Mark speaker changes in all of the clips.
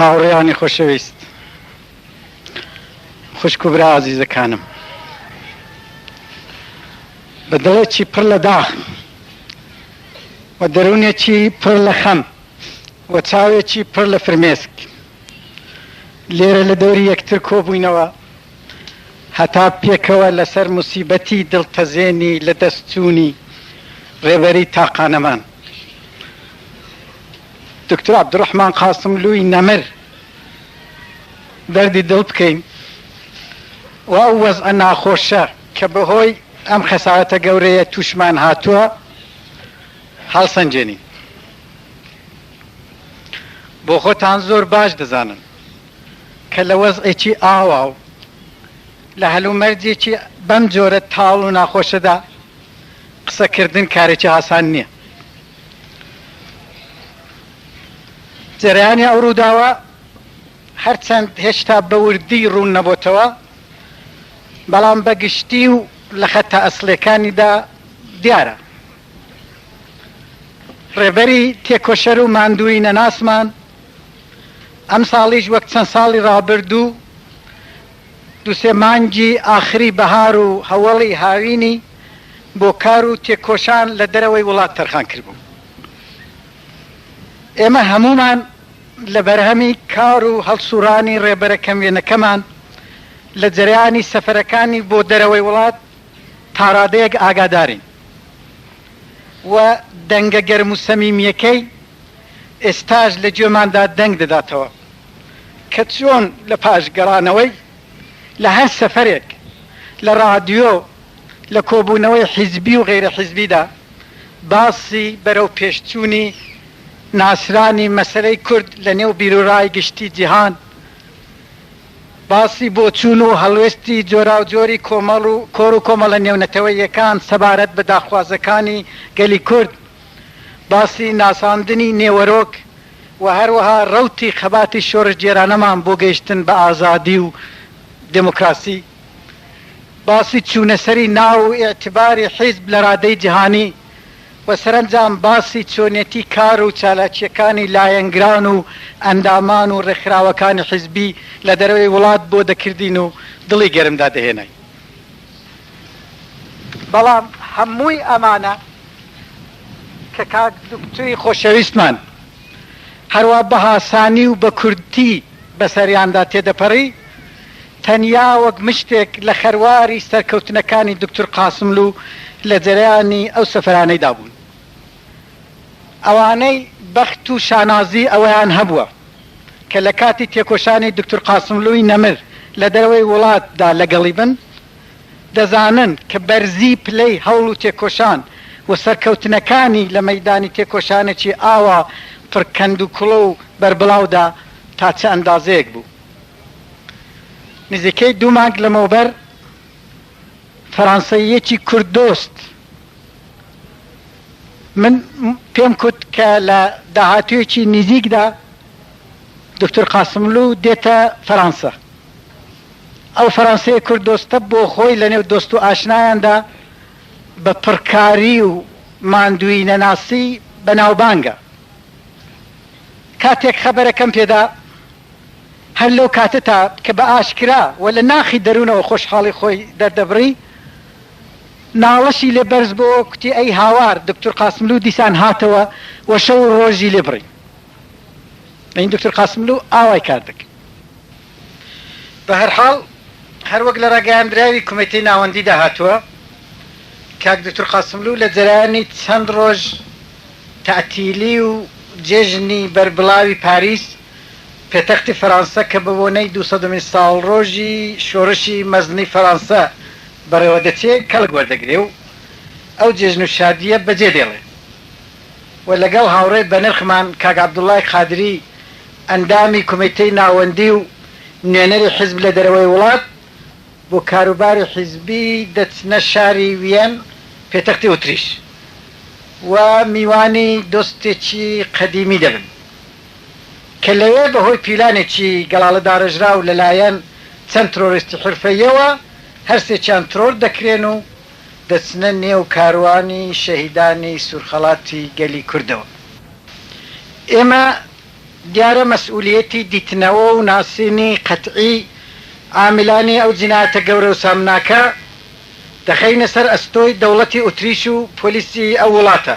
Speaker 1: هاوڕێیانی خۆشەویست، خوشک و برا ئازیزەکانم، بە دڵێکی پڕ لە داخ و دەروونێکی پڕ لە خەم و چاوێکی پڕ لە فرمێسک لێرە لە دەوری یەکتر کۆبووینەوە هەتا پێکەوە لەسەر موسیبەتی دڵتەزێنی لەدەستچوونی ڕێبەری تاقانەمان دکتۆر عەبدولڕەحمان قاسملووی نەمر دەردی دڵ بکەین و ئەو وەزعە ناخۆشە کە بەهۆی ئەم خەسارەتە گەورەیە تووشمان هاتووە هەڵسەنگێنین. بۆ خۆتان زۆر باش دەزانن کە لە وەزعێکی ئاوا و لە هەلومەرجێکی بەم جۆرە تاڵ و ناخۆشەدا قسەکردن کارێکی ئاسان نییە. جەرەیانی ئەو ڕووداوە هەرچەند هێشتا بە وردی ڕوون نەبۆتەوە، بەڵام بە گشتی و لە خەتە ئەسڵیەکانیدا دیارە. ڕێبەری تێکۆشەر و ماندووی نەناسمان ئەمساڵیش وەک چەند ساڵی ڕابردوو، دوو سێ مانگی ئاخری بەهار و هەوەڵی هاوینی، بۆ کار و تێکۆشان لە دەرەوەی وڵات تەرخان کردبوو. ئێمە هەموومان لە بەرهەمی کار و هەڵسوڕانی ڕێبەرە کەموێنەکەمان لە جەرەیانی سەفەرەکانی بۆ دەرەوەی وڵات تاڕادەیەک ئاگادارین و دەنگە گەرم و سەمیمییەکەی ئێستاش لە گوێماندا دەنگ دەداتەوە کە چۆن لە پاش گەڕانەوەی لە هەر سەفەرێک لە ڕادیۆ لە کۆبوونەوەی حیزبی و غەیرە حیزبیدا باسی بەرەو پێشچوونی ناسرانی مەسەلەی کورد لە نێو بیروڕای گشتی جیهان، باسی بۆچوون و هەڵوێستی جۆراوجۆری کۆمەڵ و کۆڕ و کۆمەڵە نێونەتەوەییەکان سەبارەت بە داخوازەکانی گەلی کورد، باسی ناساندنی نێوەرۆک و هەروەها ڕەوتی خەباتی شۆڕشگێرانەمان بۆ گەیشتن بە ئازادی و دێمۆکڕاسی. باسی چوونەسەری ناو و ئیعتباری حیزب لە رادەی جیهانی و سەرەنجام باسی چۆنیەتی کار و چالاکییەکانی لایەنگران و ئەندامان و رێکخراوەکانی حیزبی لە دەرەوەی وڵات بۆ دەکردین و دڵی گەرم دادەهێناین. بەڵام هەمووی ئەمانە کە کاک دوکتوری خۆشەویستمان هەروا بەهاسانی و بەکورتی بەسەریاندا تێدەپەڕی، تەنیا وەک مشتێک لە خەرواری سەرکەوتنەکانی دوکتور قاسملوو لە جەرەیانی ئەو سەفەرانەیدا بوون. ئەوانەی بەخت و شانازیی ئەوەیان هەبووە، کە لە کاتی تێکۆشانی دوکتور قاسملووی نەمر لە دەرەوەی وڵاتدا لەگەڵی بن، دەزانن کە بەرزیی پلەی هەوڵ و تێکۆشان و سەرکەوتنەکانی لە مەیدانی تێکۆشانێکی ئاوا پڕ کەندوکوڵە و بەربڵاودا تا چ ئەندازەیەک بوو. نزیکەی دوو مانگ لەمەوبەر فەرانسەییەکی کورددۆست من پێم کوت کە لە داهاتوویەکی نزیکدا دکتور قاسملوو دێتە فەرانسە. ئەو فەرانسەیە کورددۆستە بۆ خۆی لەنێو دۆست و ئاشنایاندا بە پڕکاری و ماندووی نەناسی بەناوبانگە. کاتێک خەبەرەکەم پێدا، هەر لەو کاتەتا کە بە ئاشکرا و لە ناخی دەروونەوە خۆشحاڵی خۆی دەردەبڕی، ناڵەشی لێ بەرز بۆوە، کوتی، ئەی هاوار! دوکتور قاسملوو دیسان هاتەوە و شەو و ڕۆژی لێ بڕی. یانی دوکتور قاسملوو ئاوای کار دەکرد. بە هەر حاڵ، هەر وەک لە ڕاگەیاندراوی کومێتەی ناوەندیدا هاتووە، کاک دوکتور قاسملوو لە جەرەیانی چەند ڕۆژ تەعتیلی و جێژنی بەربڵاوی پاریس، پێتەختی فەرانسە کە بە بۆنەی دوو سەدەمین ساڵڕۆژی شۆڕشی مەزنی فەرانسە بەڕێوە دەچێ کەڵک وەردەگرێ و ئەو جێژن و شادییە بە جێ دێڵێ و لەگەڵ هاوڕێ بەنرخمان کاک عەبدوڵای قادری ئەندامی کومیتەی ناوەندی و نوێنەری حیزب لە دەرەوەی وڵات بۆ کاروباری حیزبی دەچنە شاری ویەن پێتەختی ئوتریش و میوانی دۆستێکی قەدیمی دەبن. کە لەوێ بەهۆی پیلانێکی گەڵاڵە داڕێژراو لەلایەن چەند ترۆریستی حرفەییەوە هەرسێکیان ترۆر دەکرێن و دەچنە نێو کاروانی شەهیدانی سوورخەڵاتی گەلی کوردەوە. ئێمە دیارە مەسئولیەتی دیتنەوە و ناسینی قەتعی عامیلانی ئەو جینایەتە گەورە و سامناکە دەخەینە سەر ئەستۆی دەوڵەتی ئوتریش و پۆلیسی ئەو وڵاتە،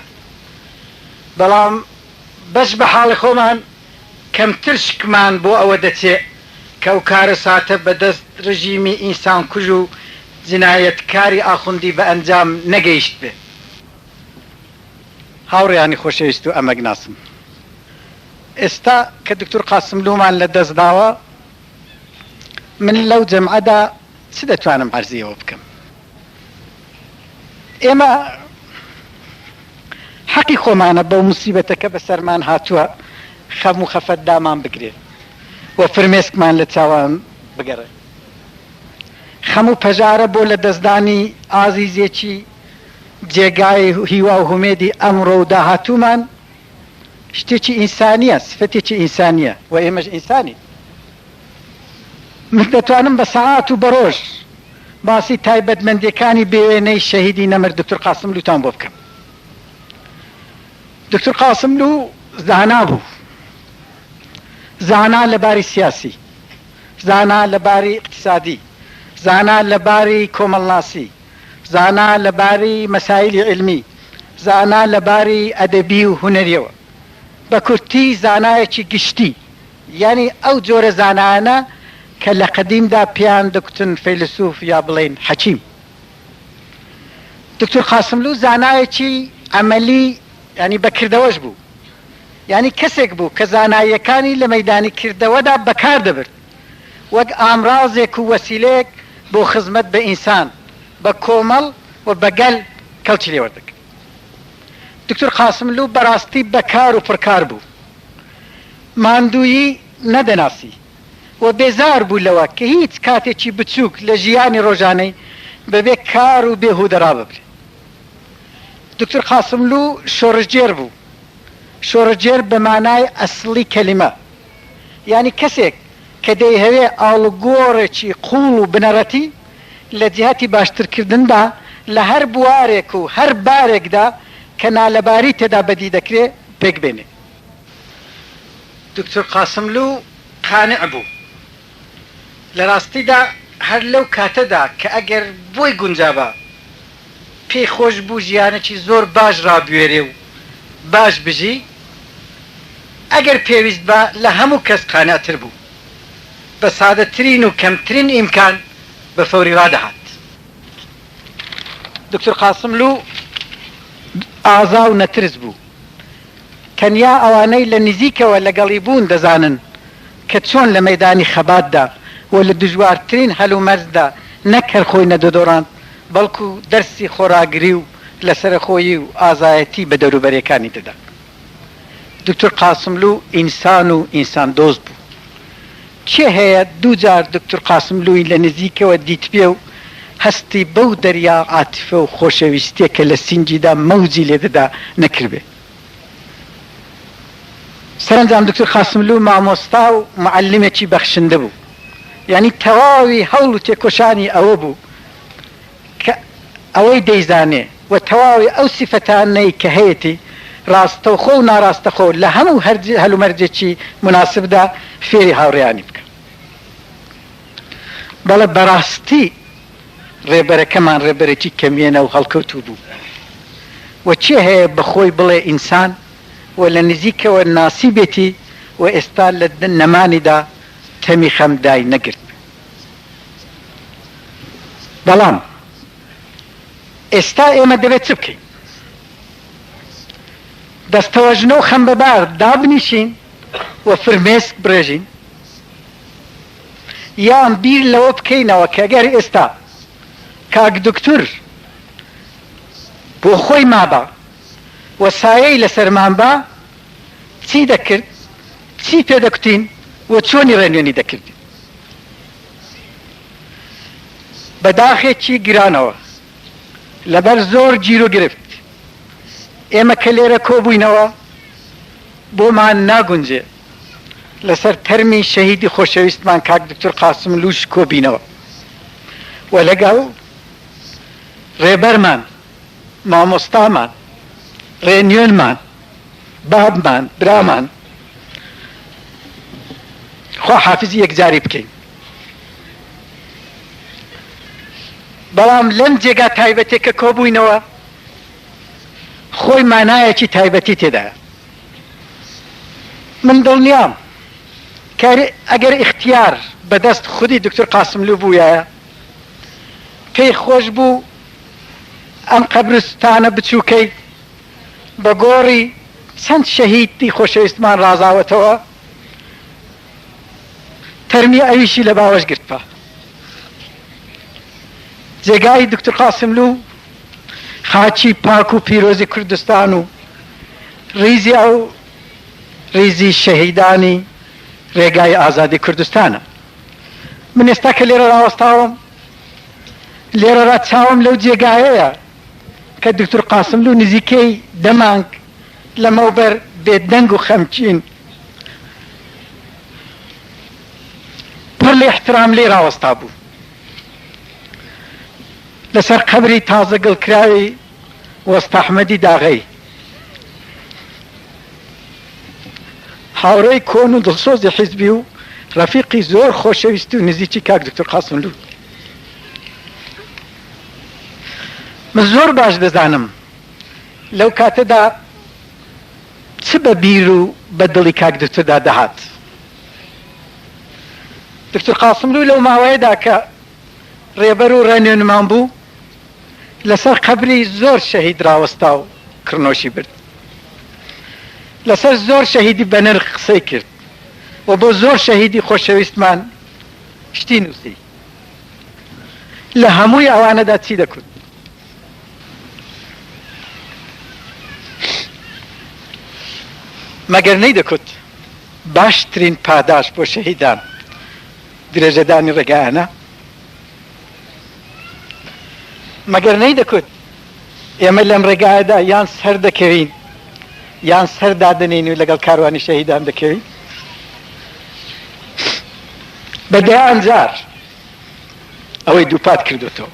Speaker 1: بەڵام، بەس بە حاڵی خۆمان کەم ترسکمان بۆ ئەوە دەچێ کە ئەو کارەساتە بە دەست رژیمی ئینسان کوژ و جنایەت کاری ئاخوندی بە ئەنجام نەگەیشتبێ. هاوڕێیانی خۆشەویست و ئەمەگ ناسم ئێستا کە دوکتور قاسملوومان لە دەست داوە من لەو جەمعەدا چ دەتوانم عەرزی ئەوە بکەم؟ ئێمە حەقی خۆمانە بەو موسیبەتە کە بەسەرمان هاتووە خەم و خەفەت دامان بگرێ و فرمێسکمان لە چاوان بگەڕێ. خەم و پەژارە بۆ لە دەستدانی ئازیزێکی جێگای هیوا و هومێدی ئەمڕۆ و داهاتوومان شتێکی ئینسانییە، سفەتێکی ئینسانییە و ئێمەش ئینسانین. من دەتوانم بە سەعات و بە ڕۆژ باسی تایبەتمەندیەکانی بێ وێنەی شەهیدی نەمر دکتور قاسملووتان بۆ بکەم. دکتور قاسملوو زانا بوو. زانا لە باری سیاسی، زانا لە باری ئیقتیسادی، زانا لە باری کۆمەڵناسی، زانا لە باری مەسایلی عیلمی، زانا لە باری ئەدەبی و هونەریەوە. بە کورتی زانایەکی گشتی یانی ئەو جۆرە زانایانە کە لە قەدیمدا پێیان دەگوتن فەیلسووف یا بڵێین حەکیم. دوکتور قاسملوو زانایەکی عەمەلی یانی بە کردەوەش بوو. یانی کەسێک بوو کە زاناییەکانی لە مەیدانی کردەوەدا بەکار دەبرد وەک ئامرازێک و وەسیلەیەک بۆ خزمەت بە ئینسان، بە کۆمەڵ و بە گەل کەڵکی لێوەردەگرت. دکتور قاسملوو بەراستی بەکار و پڕکار بوو ماندوویی نەدەناسی و بێزار بوو لەوە کە هیچ کاتێکی بچووک لە ژیانی رۆژانەی بەبێ کار و بێهوودە راببرێ. دکتور قاسملوو شۆڕشگێر بوو، شۆڕشگێر بە مانای ئەسڵی کەلیمە. یانی کەسێک کە دەیهەوێ ئاڵوگۆڕێکی قووڵ و بنەڕەتی لە جیهەتی باشترکردندا لە هەر بوارێک و هەر بارێکدا کە نالەباری تێدا بەدی دەکرێ پێکبێنێ. دوکتور قاسملوو قانع بوو لە ڕاستیدا هەر لەو کاتەدا کە ئەگەر بۆی گونجابا پێی خۆش بوو ژیانێکی زۆر باش ڕابوێرێ و باش بژی، ئەگەر پێویست با لە هەموو کەس قانعتر بوو. بە سادەترین و کەمترین ئیمکان بە فەوری ڕادەهات. دوکتور قاسملوو ئازا و نەترس بوو. تەنیا ئەوانەی لە نزیکەوە لەگەڵی بوون دەزانن کە چۆن لە مەیدانی خەباتدا و لە دژوارترین هەلومەرجدا نەک هەر خۆی نەدۆدۆڕاند، بەڵکو دەرسی خۆڕاگری و لەسەرەخۆیی و ئازایەتی بە دەوروبەرێکانی دەدا. دوکتور قاسملوو ئینسان و ئینساندۆست بوو. کێ هەیە دوو جار دوکتور قاسملووی لە نزیکەوە دیتبێ و هەستی بەو دەریا عاتیفە و خۆشەویستییە کە لە سینگیدا مەوجی لێ دەدا نەکردبێ؟ سەرەنجام دوکتور قاسملوو مامۆستا و موعەلمێکی بەخشندە بوو، یانی تەواوی هەوڵ و تێکۆشانی ئەوە بوو کە ئەوەی دەیزانێ و تەواوی ئەو سیفەتانەی کە هەیەتی ڕاستەوخۆ و ناڕاستەخۆ لە هەموو هەلومەرجێکی موناسبدا فێری هاوڕێیانی بکا. بەڵێ بەڕاستی. ڕێبەرەکەمان ڕێبەرێکی کەموێنە و هەڵکەوتوو بوو و چێ هەیە بە خۆی بڵێ ئینسان و لە نزیکەوە ناسیبێتی و ئێستا لە نەمانیدا تەمی خەم دای نەگرتبێ. بەڵام ئێستا ئێمە دەبێ چ بکەین؟ دەستەوەژنە و خەمبەبار دابنیشین و فرمێسک بڕێژین؟ یان بیر لەوە بکەینەوە کە گەر ئێستا کاک دوکتور بۆ خۆی مابا و سایەی لەسەرمان با چی دەکرد، چی پێ دەکوتین و چۆنی ڕێنوێنی دەکردین؟ بە داخێکی گرانەوە لەبەر زۆر گیروگرفت ئێمە کە لێرە کۆبووینەوە بۆمان ناگونجێ. لەسەر تەرمی شەهیدی خۆشەویستمان کاک دوکتور قاسملووش کۆبینەوە و لەگەڵ ڕێبەرمان، مامۆستامان، ڕێنوێنمان، بابمان، برامان خواحافیزی یەکجاری بکەین. بەڵام لەم جێگا تایبەتێک کە کۆبووینەوە خۆی مانایەکی تایبەتی تێدایە. من دڵنیام کە ئەگەر ئیختیار بە دەست خودی دوکتور قاسملوو بوویایە، پێی خۆش بوو ئەم قەبرستانە بچووکەی بە گۆڕی چەند شەهیدی خۆشەویستمان ڕازاوەتەوە، تەرمی ئەویشی لە باوەش گرتبا. جێگای دوکتور قاسملوو خاچی پاک و پیرۆزی کوردستان و ڕیزی ئەو ڕیزی شەهیدانی ڕێگای ئازادی کوردستانە من ئێستا کە لێرە ڕاوەستاوم لێرەڕا چاوم لەو جێگایەیە کە دکتور قاسم لو نزیکەی دەمانگ لەمەوبەر بێدەنگ و خەمچین پڕ لە احترام لێ راوەستا بوو لەسەر قەبری تازە گڵکراوی وەستاحمەدی داغەی هاوڕێی کۆن و دڵسۆزی حیزبی و ڕەفیقی زۆر خۆشەویست و نزیکی کاک دکتور قاسملوو من زۆر باش دەزانم لەو کاتەدا چ بە بیر و بە دڵی کاک دکتوردا دەهات دوکتور قاسملوو لەو ماوەیەدا کە ڕێبەر و ڕێنوێنمان بوو، لەسەر قەبری زۆر شەهید ڕاوەستا و کڕنۆشی برد. لەسەر زۆر شەهیدی بەنرخ قسەی کرد و بۆ زۆر شەهیدی خۆشەویستمان شتی نووسی. لە هەمووی ئەوانەدا چی دەکوت؟ مەگەر نەیدەکوت باشترین پاداشت بۆ شەهیدان درێژەدانی ڕێگایانە، مەگەر نەیدەکوت ئێمە لەم ڕێگایەدا یان سەر دەکەوین یان سەر دادەنێین و لەگەڵ کاروانی شەهیدان دەکەوین؟ بە دەیان جار ئەوەی دووپات کردۆتەوە.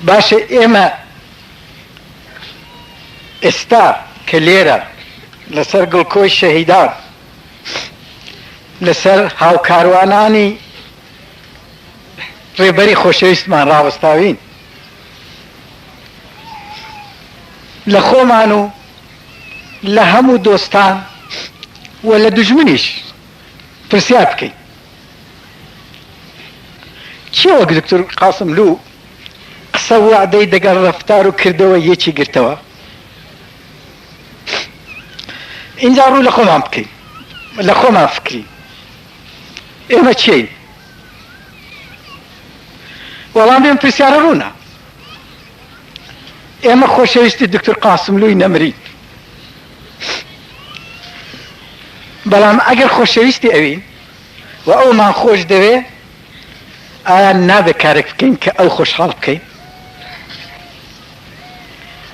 Speaker 1: باشە ئێمە. ئێستا کە لێرە لەسەر گڵکۆی شەهیدان، لەسەر هاوکاروانانی ڕێبەری خۆشەویستمان ڕاوەستاوین، لە خۆمان و لە هەموو دۆستان و لە دوژمنیش پرسیار بکەین، کێ وەک دکتور قاسملوو قسە و وەعدەی دەگەڵ ڕەفتار و کردەوەی یەکی گرتەوە؟ ئینجا ڕوو لە خۆمان بکەین، لە خۆمان فکرین. ئێمە کێین؟ وەڵامی ئەم پرسیارە ڕوونە. ئێمە خۆشەویستی دوکتور قاسملووی نەمری، بەڵام ئەگەر خۆشەویستی ئەوین و ئەومان خۆش دەوێ، ئایا نابێ کارێک بکەین کە ئەو خۆشحاڵ بکەین؟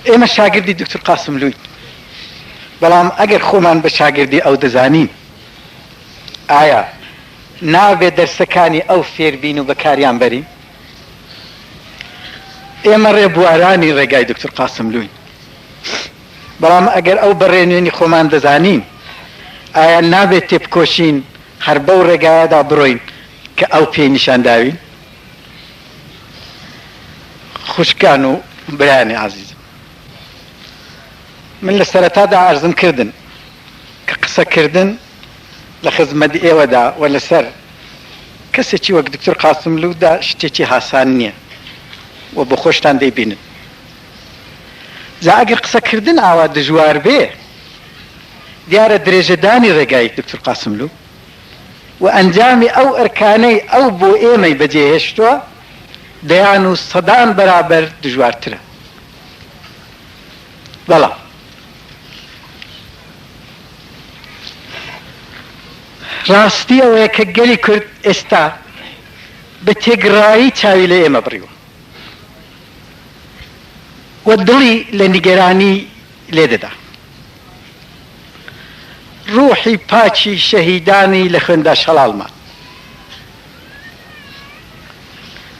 Speaker 1: ئێمە شاگردی دوکتور قاسملووین، بەڵام ئەگەر خۆمان بە شاگردی ئەو دەزانین، ئایا نابێ دەرسەکانی ئەو فێر بین و بەکاریان بەرین؟ ئێمە ڕێبوارانی ڕێگای دوکتور قاسملووین، بەڵام ئەگەر ئەو بەڕێنوێنی خۆمان دەزانین، ئایا نابێت تێبکۆشین هەر بەو ڕێگایەدا بڕۆین کە ئەو پێی نیشان داوین؟ خوشکان و برایانی ئازیزم، من لە سەرەتادا عەرزم کردن کە قسەکردن، لە خزمەت ئێوەدا و لەسەر کەسێکی وەک دکتۆر قاسملوو دا شتێکی هاسان نییە و بۆ خۆشتان دەیبینن. جا ئەگەر قسە کردن ئاوا دژوار بێ، دیارە درێژە دانی ڕێگای دکتۆر قاسملوو و ئەنجامی ئەو ئەرکانەی ئەو بۆ ئێمەی بە جێ هێشتووە دەیان و سەدان بەرابەر دژوارترە. بەڵام. ڕاستی ئەوەیە کە گەلی کورد ئێستا بە تێگڕایی چاوی لە ئێمە بڕیوە و دڵی لە نیگەرانی لێ دەدا. ڕووحی پاکی شەهیدانی لە خوێندا شەڵاڵ مان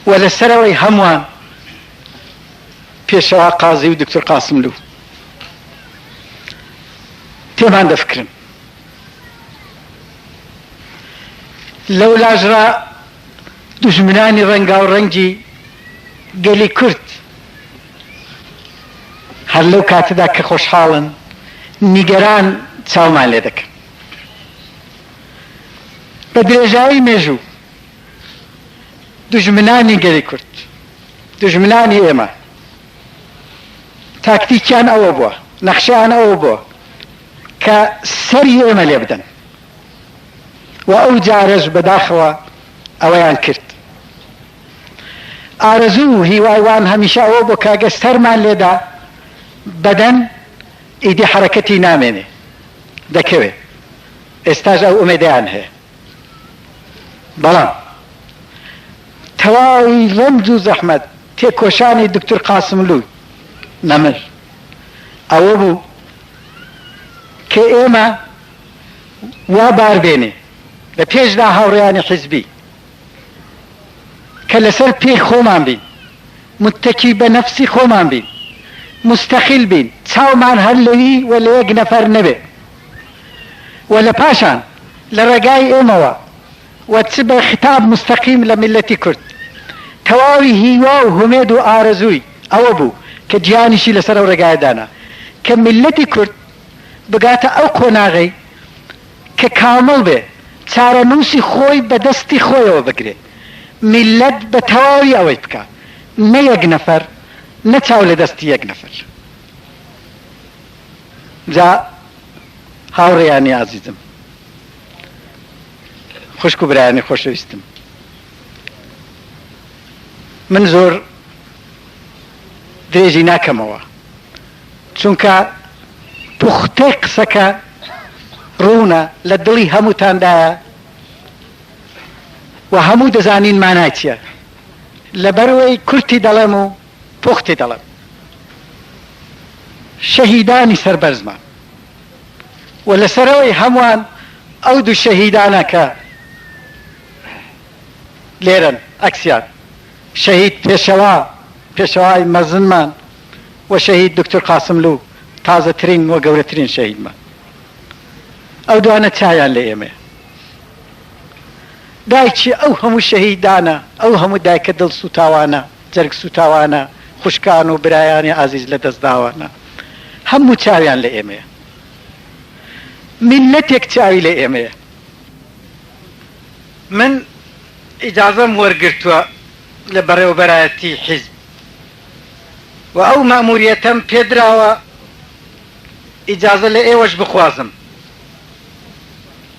Speaker 1: و لەسەرەوەی هەمووان پێشەوا قازی و دوکتور قاسملوو. پێمان دەفکرن لەو لاژڕا دوژمنانی ڕەنگاو ڕەنگی گەلی کورد هەر لەو کاتەدا کە خۆشحاڵن نیگەران چاومان لێ دەکەن بە درێژایی مێژوو دوژمنانی گەلی کورد دوژمنانی ئێمە تاکتیکیان ئەوە بووە، نەخشەیان ئەوە بووە کە سەری ئێمە لێ بدەن و ئەو جارەش بەداخەوە ئەوەیان کرد. ئارەزوو و هیوای وان هەمیشە ئەوە بوو کە گە سەرمان لێ دا بەدەن ئیدی حەرەکەتی نامێنێ، دەکەوێ. ئێستاش ئەو ئومێدەیان هەیە. بەڵام تەواوی رەنج و زەحمەت تێکۆشانی دوکتور قاسملوو نەمر ئەوە بوو کە ئێمە وا بار بێنێ لە پێشدا هاوڕێیانی حیزبی کە لە سەر پێی خۆمان بین، متەکی بە نەفسی خۆمان بین، موستەقیل بین، چاومان هەر لەوی و لە یەک نەفەر نەبێ و لە پاشان لە ڕێگای ئێمەوە، و چ بە خیتاب موستەقیم لە میللەتی کورد، تەواوی هیوا و هومێد و ئارەزووی ئەوە بوو کە گیانیشی لەسەر ئەو ڕێگایە دانا کە میللەتی کورد بگاتە ئەو قۆناغەی کە کامڵ بێ، چارەنووسی خۆی بە دەستی خۆیەوە بگرێ، میللەت بە تەواوی ئەوەی بکا، نە یەک نەفەر، نە چاو لە دەستی یەک نەفەر. جا هاوڕێیانی ئازیزم! خوشک و برایانی خۆشەویستم من زۆر درێژی ناکەمەوە چونکە پوختەی قسەکە ڕوونە لە دڵی هەمووتاندایە و هەموو دەزانین مانای چییە لەبەرەوەی کورتی دەڵێم و پوختی دەڵێم شەهیدانی سەربەرزمان و لەسەر ئەوەی هەمووان ئەو دوو شەهیدانە کە لێرەن ئەکسیان شەهید پێشەوا پێشەوای مەزنمان و شەهید دوکتور قاسملوو تازەترین و گەورەترین شەهیدمان ئەو دوانە چایان لە ئێمێ دایکی ئەو هەموو شەهیدانە ئەو هەموو دایکە دڵ سوتاوانە جەرگ سووتاوانە، خوشکان و برایانی ئازیز لەدەستداوانە هەموو چاویان لە ئێمەیە. میللەتێک چاوی لە ئێمەیە. من ئیجازەم وەرگرتووە لە بەڕێوەبەرایەتی حیزب و ئەو مەئمووریەتەم پێدراوە، ئیجازە لە ئێوەش بخوازم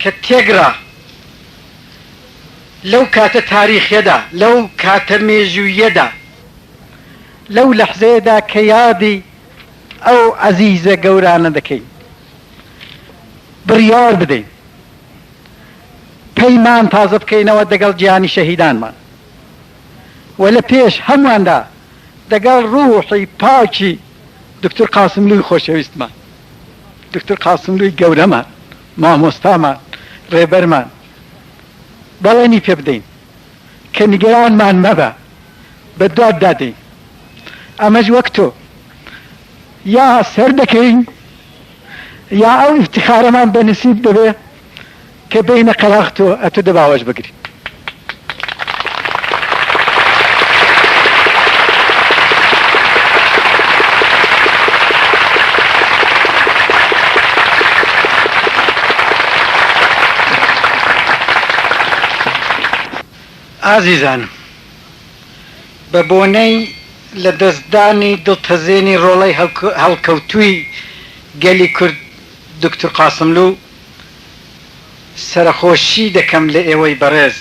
Speaker 1: کە تێکڕا لەو کاتە تاریخیەدا، لەو کاتە مێژووییەدا، لەو لەحزەیەدا کە یادی ئەو عەزیزە گەورانە دەکەین، بڕیار بدەین پەیمان تازە بکەینەوە دەگەڵ گیانی شەهیدانمان و لە پێش هەمواندا دەگەڵ ڕووحی پاکی دوکتور قاسملووی خۆشەویستمان، دوکتور قاسملووی گەورەمان، مامۆستامان، ڕێبەرمان. بەڵێنی پێ بدەین کە نیگەرانمان مەبە بەدواددا دێین ئەمەش وەک تۆ یا سەر دەکەین یا ئەو ئیفتخارەمان بە نسیب دەبێ کە بێینە قەراغ تۆ ئەتو دەباوەش بگری. ئازیزانم، بە بۆنەی لە دەست دانی دڵتەزێنی ڕۆڵەی هەڵکەوتووی گەلی کورد دوکتور قاسملوو، سەرەخۆشی دەکەم لە ئێوەی بەڕێز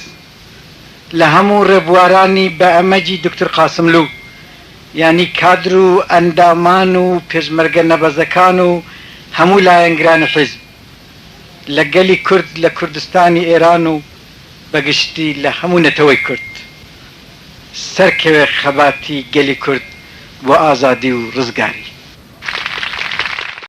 Speaker 1: لە هەموو ڕێبوارانی بە ئەمەجی دوکتور قاسملوو، یانی کادر و ئەندامان و پێشمەرگە نەبەزەکان و هەموو لایەنگرانی حیزب لە گەلی کورد لە کوردستانی ئێران و بە گشتی لە هەموو نەتەوەی کورد سەرکەوێ خەباتی گەلی کورد بۆ ئازادی و ڕزگاری.